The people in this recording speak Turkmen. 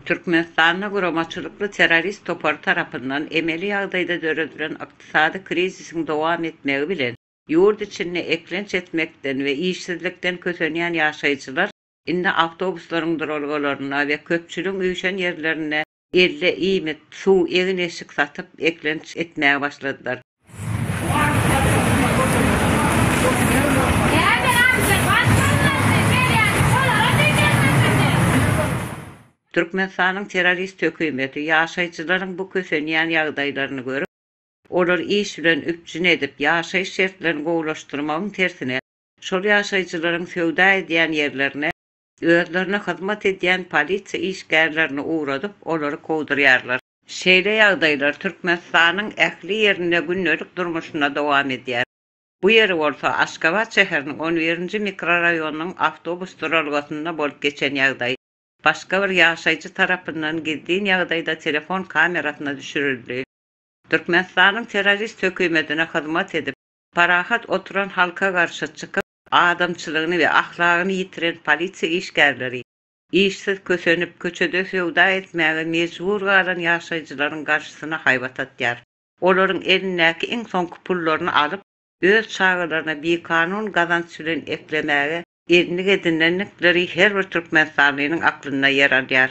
Türkmenistanda guramaçylykly terrorist topary tarapyndan emeli ýagdaýda döredilen ykdysady krizisiň dowam etmegi bilen, ýurt içinde eklenç etmekden we işsizlikden kösenýän ýaşaýjylar indi awtobuslaryň duralgalarynda we köpçüligiň üýşen ýerlerinde Elle iýmit, suw, egin-eşik satyp, eklenç etmäge başladylar. Türkmenistanyň terrorist hökümeti ýaşaýjylaryň bu kösenýän ýagdaýlaryny görüp, olary iş bilen üpjün edip, ýaşaýyş şertlerini gowulaşdyrmagyň tersine, şol ýaşaýjylaryň söwda edýän ýerlerine Özlerine hyzmat edýän polisiýa işgärlerini ugradyp, olary kowdurýarlar. Şeýle ýagdaýlar Türkmenistanyň ähli ýerinde gündelik durmuşynda dowam edýär. Bu ýeri bolsa Aşgabat şäheriniň on birinji mikroraýonynyň awtobus duralgasynda bolup geçen ýagdaý, başga bir ýaşaýjy tarapyndan gizlin ýagdaýda telefon kamerasyna düşürildi. Türkmenistanyň terrorist hökümetine hyzmat edip, parahat oturan halka garşy çykyp, Adamçylygyny we ahlagyny ýitiren polisiýa işgärleri, işsiz kösenip, köçede söwda etmäge mejbur galan ýaşaýjylaryň garşysyna haýbat atýar. Olaryň elindäki iň soňky pullaryny alyp, öz çagalaryna bikanun gazanç bilen eklemäge endik edinendikleri her bir türkmenistanlynyň aklynda ýer alýar.